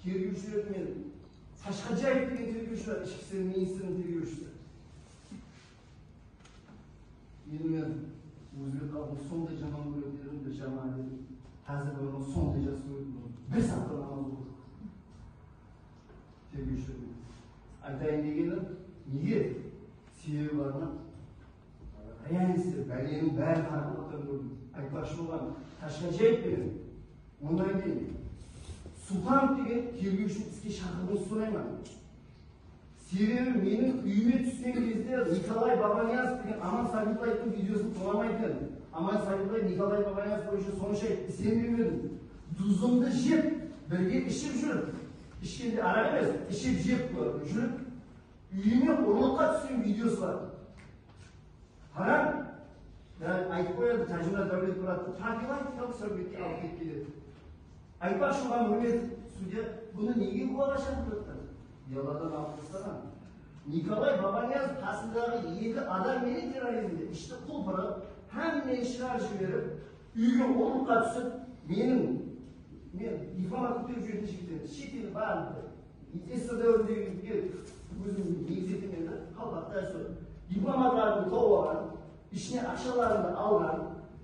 Tergewshiler menen Qashqadjaev degen tergewshi bar, Ishki isler ministriniń tergewshisi. Endi men ózbek xalqın sonday jaman kóretuǵının bir jaman edim. Xázir de onı sonday jaqsı kóretuǵınım. Bir saatqa namaz oqıdı. Tergewshiler menen. Aytayın degenim, nege? Sebebi bar ma? Realistler, báleniń bárin qaraqalpaqtan kórdim. Aytpaqshı bolǵanım, Qashqadjaev penen Onnan keyin Suxanov degen tergewshini iske shaqırıwıńızdı sorayman. Sebebi meniń úyime túsken kezde Nikolay Babanyazov degen Aman Sabiqlayevtıń videosın qılamay edim. Aman Sabiqlayev Nikolay Babanyazov boyınsha sonsha isenbewmedim. Duzımdı jep, birge iship júrip, ishkende araq emes, iship-jep júrip, úyime urlıqqa túsken videosı bar. Hara, yani aytıp qoyadı, Tajula Davletmuratov profilaktikalıq sáwbetke alıp ketip keledi. Aytpaqshı oǵan Úmetovtı sudya bunı nege gúwaǵa shaqırıp atqan? Beladan alıp tastaǵan. Nikolay Babaniyazov qasındaǵı eki adam menen terrorizmde ishti qul pırıp, hámmeni shıǵarıp jiberip, úyge ulıqqa túsip, meniń, men difamar kóterip júreten jigitterimiz, shekeli, barın, Ministr dáwirindegi yigitler ózimizdiń negizi ekenlerdi, qalpaq dástúr. Diplomatlardıń tobaǵan, ishine aqshalarındı alǵan,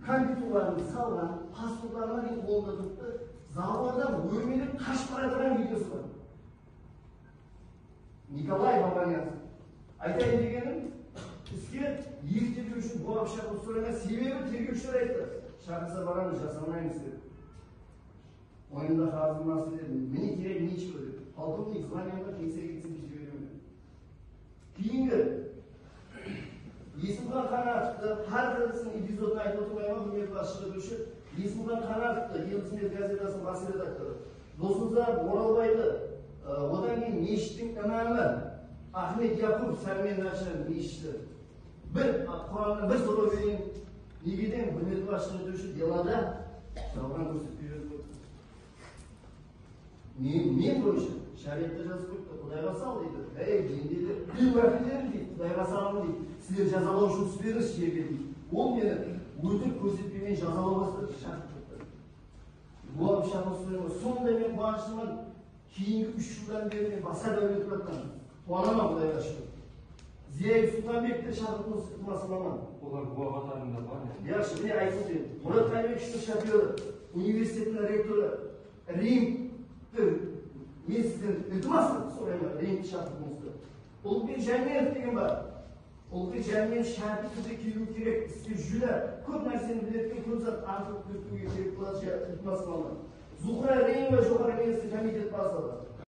kondituǵlarındı salǵan, pasportlarına deyin qolında turıptı, zabordan órmelep qashıp baraja atırǵan videosı bar. Nikolay Babanyanskiy. Aytayın degenim, iske eki tergewshi bola pıshaq urıp soraymay, sebebi tergewshiler ayttı, shaqırsa baramız, jasamaymiz dep. Oyında xazır nasıl edim, mine kerek nechego dep. Polkovnik znamenǵa kelse ketsin dep jiberemen. Keyingi Esimxan Qánátovtı hár qıylısin epizodın aytıp otırmayman, húrmetli basshıǵa dewshi Esimxan Qánátovtı, El Ismet gazetasınıń bas redaktorı, Dosnazar Oralbaydı, odan keyin meshittiń imamı Axmet Yaqup Sármen Nansha meshiti, Bir Qurannan bir soraw berin negeden Gúrmetli bash túzetiwshi delada jalǵan kórsetpe berip qoyıptı? Men men boyınsha shariatta jazıp qoyıptı Qudayǵa sal deydi Hey pendeler men gúnahkarmen deydi Qudayǵa salamın deydi sizler jazalaw ushın túspedińiz jerge deydi Ol meni ótirip kórsetpemen jazalaw bastadı shaqırıp turıptı Bular pıshaqın ustinden sonday men quwanıshlıman Keyingi úsh jıldan beri men basqa dáwletler atlandım. Quwanaman Qudayǵa shúkir. Ziya Yusupǵanbek te shaqırıptı usı ıqlasılaman. Olar búwa qatarında bar ma? Yaqshı, mine aytıp óteyin. Murat Qaybekovtıń shofyorı, universitettiń rektorı Rimdi, men sizden iltimas qılıp sorayman, Rimdi shaqırıp usı Ulqi Jámelov degen bar. Ulqi Jámelov shártli túrde keliwi kerek. Bizge júdá kóp nárseni biletken, kóp zat ańsırıp kózitiwge kerek boladı, iltimas, mama. Zuxra Reymova joqarı keńestin komitet bazlıǵı.